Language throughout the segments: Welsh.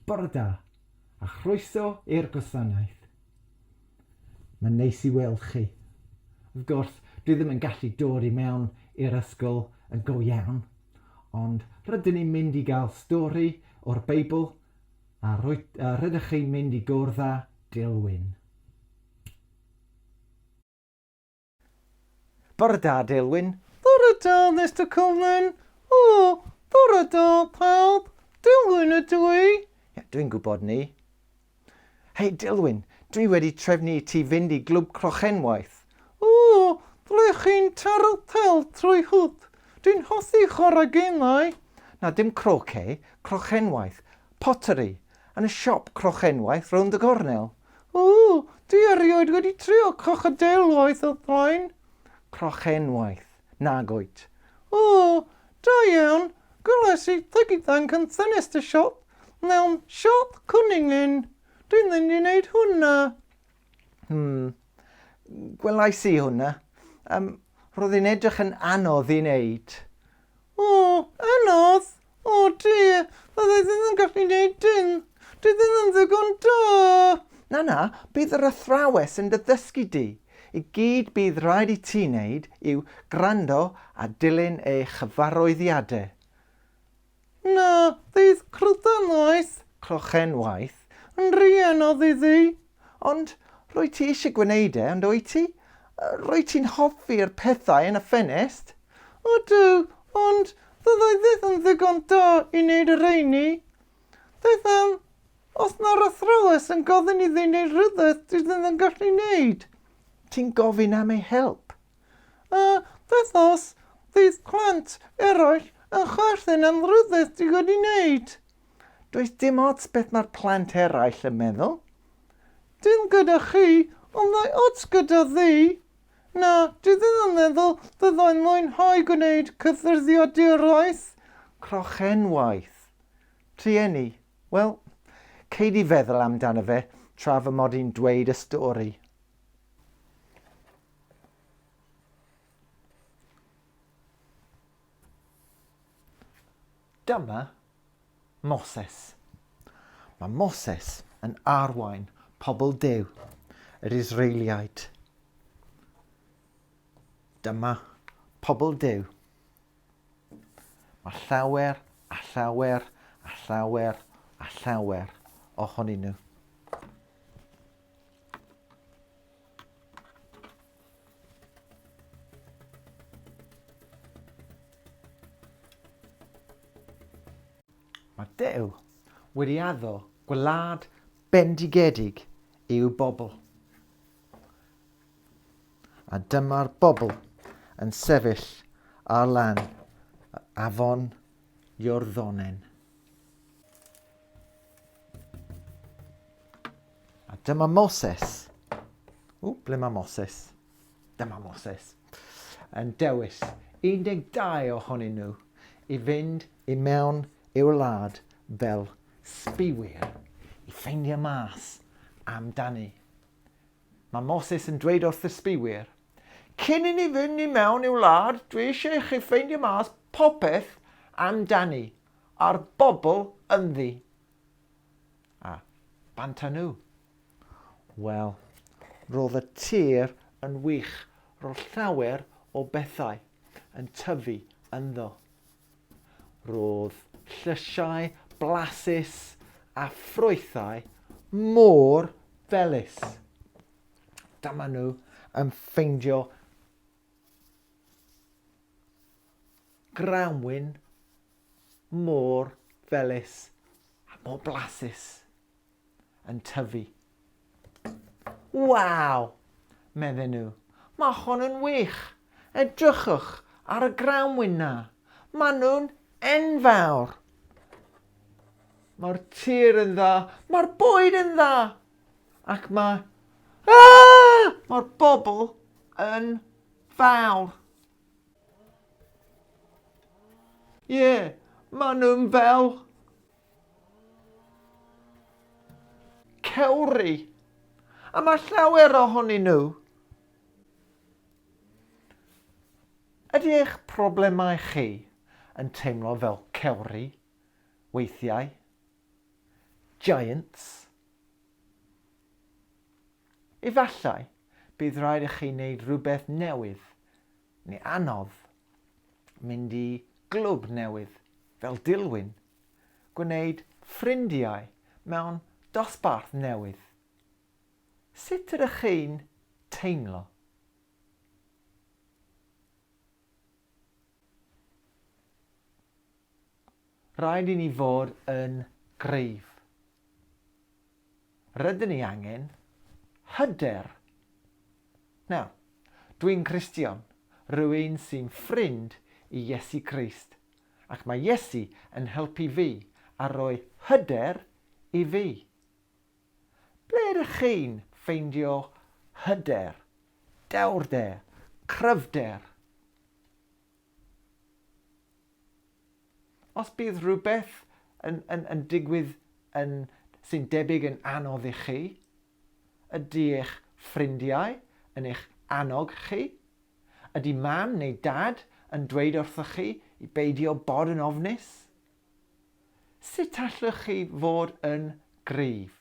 Bore da, a chroeso i'r gwasanaeth. Mae'n neis i weld chi. Wrth gwrs, dwi ddim yn gallu dod i mewn i'r ysgol yn go iawn, ond rydyn ni'n mynd i gael stori o'r Beibl a rydych chi'n mynd i gwrdd â Dil Wyn. Bore da Deulwyn. Bore da Mister Cullen. O, bore da pawb. Deulwyn ydw i. Ie, dwi'n gwybod 'ny. Hei Deulwyn, dwi wedi trefnu i ti fynd i Glwb Crochenwaith. O, ble chi'n taro pel trwy hwp? Dwi'n hoffi chwarae gemau. Na, dim croquet, crochenwaith. Pottery. Yn y siop crochenwaith rownd y gornel. O, dwi erioed wedi trio crocodeil waith o'r blaen. Crochenwaith, nag wyt? O, da iawn, gwelais i dy ifanc yn thynnus dy siop mewn siop Cwning Lyn. Dwi'n mynd i wneud hwnna. Hmm, gwelais i hwnna. Yym, roedd hi'n edrych yn anodd i wneud. O, anodd! O dear, fydda i ddim yn gallu gwneud dim! Dwi ddim yn ddigon da! Na, na, bydd yr athrawes yn dy ddysgu di! Y gyd bydd rhaid i ti wneud yw gwrando a dilyn ei chyfarwyddiadau. Na, fydd crydan noeth, crochen waith, yn rhy anodd iddi! Ond rwyt ti eisiau gwneud e, ond wyt ti? Rwyt ti'n hoffi'r pethau yn y ffenest? Ydw, ond fyddai byth yn ddigon da i wneud y rheini. Beth am, os mae'r athrawes yn gofyn iddi wneud rhywbeth dwi ddim yn gallu wneud? Ti'n gofyn am ei help. A beth os fydd plant eraill yn chwerthin am rhywbeth dwi wedi wneud? Does dim ots beth mae'r plant eraill yn meddwl. Dim gyda chi, ond mae ots gyda fi. Na, dwi ddim yn meddwl fyddai'n mwynhau gwneud cyffyrddiaduraeth. Crochenwaith. Rhieni, wel, cei di feddwl amdano fe tra fy mod i'n dweud y stori. Dyma Moses. Mae Moses yn arwain pobl Duw, yr Israeliaid. Dyma pobl Duw. Mae llawer a llawer a llawer a llawer ohonyn nhw. Mae Duw wedi addo gwlad bendigedig i'w bobl. A dyma'r bobl yn sefyll ar lan afon Iorddonen. A dyma Moses. O, ble mae Moses? Dyma Moses. Yn dewis 12 ohonyn nhw i fynd i mewn i'w wlad fel sbiwyr i ffeindio mas amdani. Mae Moses yn dweud wrth y sbiwyr, cyn i ni fynd i mewn i'w wlad, dwi eisiau i chi ffeindio mas popeth amdani a'r bobl ynddi. A, bant â nhw! Wel, roedd y tir yn wych, roedd llawer o bethau yn tyfu ynddo. Roedd llysiau blasus a ffrwythau mor felys. Dyma nhw yn ffeindio grawnwin mor felys a mor blasus yn tyfu. Waw! medden nhw. Mae hon yn wych! Edrychwch ar y grawnwin na. Mae nhw'n enfawr! Mae'r tir yn dda, mae'r bwyd yn dda, ac mae... Ah! Mae'r bobl yn fawr. Ie, yeah, maen nhw'n fel... Cewri. A mae llawer ohonyn nhw. Ydy eich problemau chi yn teimlo fel cewri weithiau? Giants? Efallai, bydd rhaid i chi wneud rhywbeth newydd, neu anodd, mynd i glwb newydd fel Dilwyn, gwneud ffrindiau mewn dosbarth newydd. Sut ydych chi'n teimlo? Rhaid i ni fod yn gryf. Rydyn ni angen hyder. Nawr, dwi'n Cristion, rwy'n sy'n ffrind i Iesu Grist, ac mae Iesu yn helpu fi a rhoi hyder i fi. Ble ydych chi'n ffeindio hyder, dewrder, cryfder? Os bydd rhywbeth yn, yn, yn digwydd yn, sy'n debyg yn anodd i chi, ydy eich ffrindiau yn eich annog chi? Ydy mam neu dad yn dweud wrthoch chi i beidio bod yn ofnus? Sut allwch chi fod yn gryf?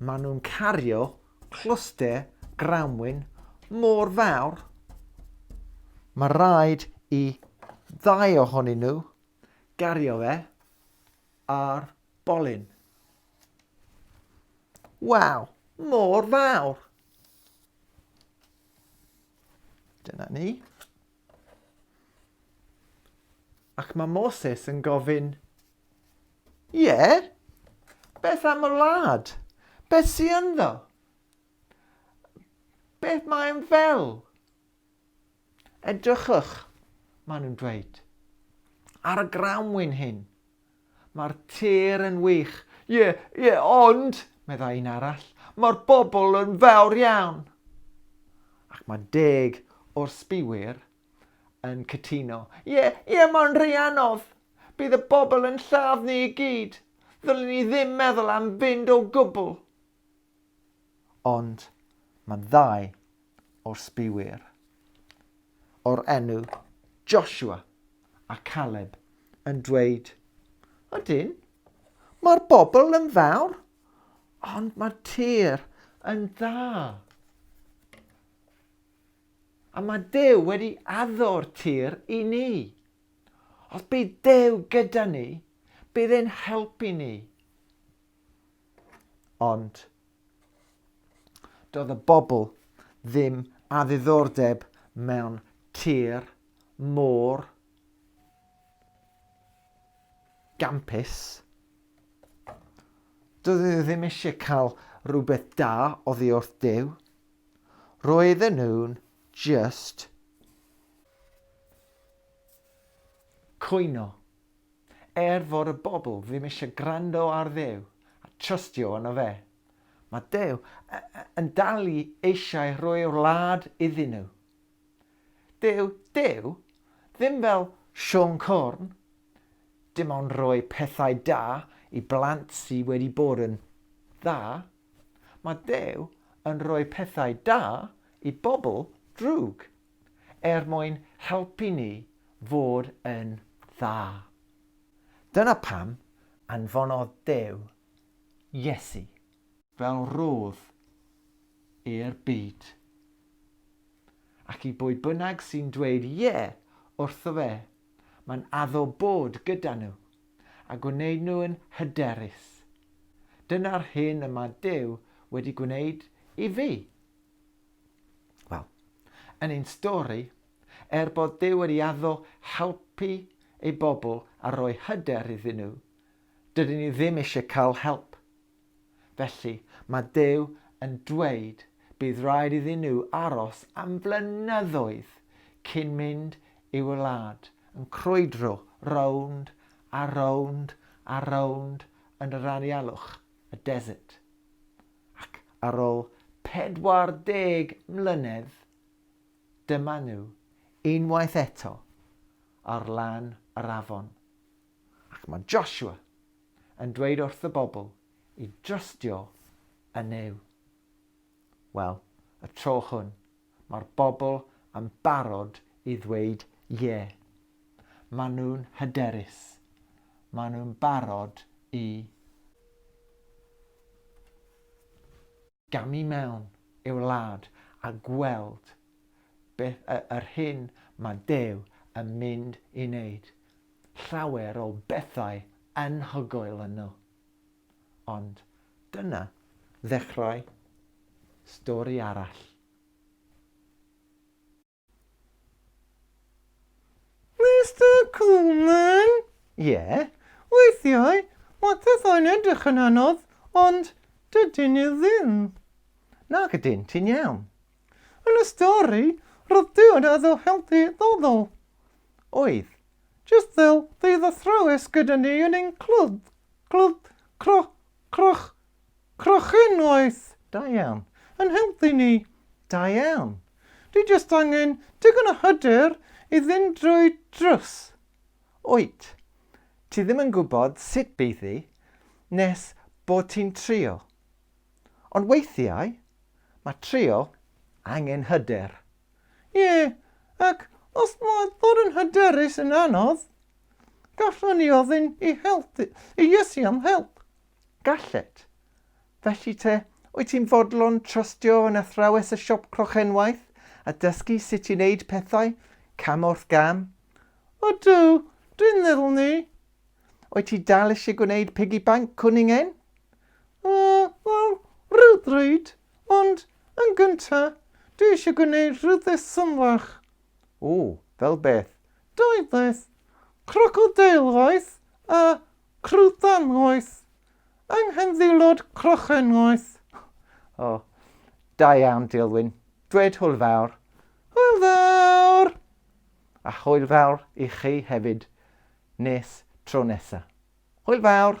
Maen nhw'n cario clwster grawnwin mor fawr, mae rhaid i ddau ohonyn nhw gario fe ar bolyn. Waw, mor fawr! Dyna ni. Ac mae Moses yn gofyn, Ie, beth am y wlad? Beth sy'n ynddo? Beth mae'n fel? Edrychwch, maen nhw'n dweud, ar y grawnwyn hyn. Mae'r tir yn wych. Ie, ie, ond, meddai un arall, mae'r bobl yn fawr iawn. Ac mae deg o'r sbiwyr yn cytuno. Ie, ie, mae'n rhy anodd. Bydd y bobl yn lladd ni i gyd. Ddylen ni ddim meddwl am fynd o gwbl. Ond mae ddau o'r sbïwyr o'r enw Joshua a Caleb yn dweud, Ydyn, mae'r bobl yn fawr, ond mae'r tir yn dda. A mae Duw wedi addo'r tir i ni. Os bydd Duw gyda ni, bydd e'n helpu ni. Ond doedd y bobl ddim â ddiddordeb mewn tir mor gampus. Doedd nhw ddim eisiau cael rhywbeth da oddi wrth Duw. Roedden nhw'n just cwyno Er fod y bobl ddim eisiau gwrando ar Dduw a trystio yno fe, mae Duw yn dal i eisiau rhoi'r wlad iddyn nhw. Dyw Duw ddim fel Siôn Corn, dim ond rhoi pethau da i blant sydd wedi bod yn dda, mae Duw yn rhoi pethau da i bobl drwg. er mwyn helpu ni fod yn dda. Dyna pam anfonodd Duw Iesu. Fel rhodd i'r byd. Ac i bwy bynnag sy'n dweud 'Ie' wrtho fe, mae'n addo bod gyda nhw, a gwneud nhw'n hyderus. Dyna'r hyn y mae Duw wedi gwneud i fi. Wel, yn ein stori, er bod Duw wedi addo helpu ei bobl a rhoi hyder iddyn nhw, dydyn ni ddim eisiau cael help. Felly, mae Duw yn dweud bydd rhaid iddyn nhw aros am flynyddoedd cyn mynd i'w wlad, yn crwydro rownd a rownd a rownd yn yr anialwch, y desert. Ac ar ol 40 mlynedd, dyma nhw, unwaith eto, ar lan yr afon. Ac mae Joshua yn dweud wrth y bobl i drystio yn Nuw. Wel, y tro hwn, Mae'r bobl yn barod i ddweud ie. Maen nhw'n hyderus. Maen nhw'n barod i gamu mewn i'w wlad a gweld beth y, yr hyn mae Dew yn mynd i wneud. Llawer o bethau anhygoel yn nhw. Ond dyna ddechrau stori arall. Mister Coleman? Ie? Weithiau mae pethau'n edrych yn anodd, ond dydyn nhw ddim. Nac ydyn, ti'n iawn. Yn y stori, roedd dyn a ddo helpu bobl. Oedd. Jyst fel bydd athrawes gyda ni yn ein clwb, clwb cro, croch, crochen waith. Da iawn. Yn helpu ni. Da iawn. Dwi jyst angen digon o hyder i fynd drwy drws. Wyt. Ti ddim yn gwybod sut bydd hi nes bod ti'n trio. Ond weithiau, mae trio angen hyder. Ie, ac os mae bod yn hyderus yn anodd, gallwn ni ofyn i help, i Iesu am help. Gallet. Felly te, wyt ti'n fodlon trystio yn athrawes y siop crochenwaith a dysgu sut i wneud pethau, cam wrth gam? Ydw, dwi'n meddwl 'ny. Wyt ti dal eisiau gwneud piggy bank cwn i'n ein? Uh, wel, rhywbryd, ond yn gynta, dwi eisiau gwneud rhywbeth symlach. O, fel beth? Doethwaith, crocodeilwaith a chrwthanwaith, yng nghyndilod crochenwaith. O, oh, da iawn, Dilwyn. Dwed hwyl fawr. Hwyl fawr! A hwyl fawr i chi hefyd. Nes tro nesa. Hwyl fawr!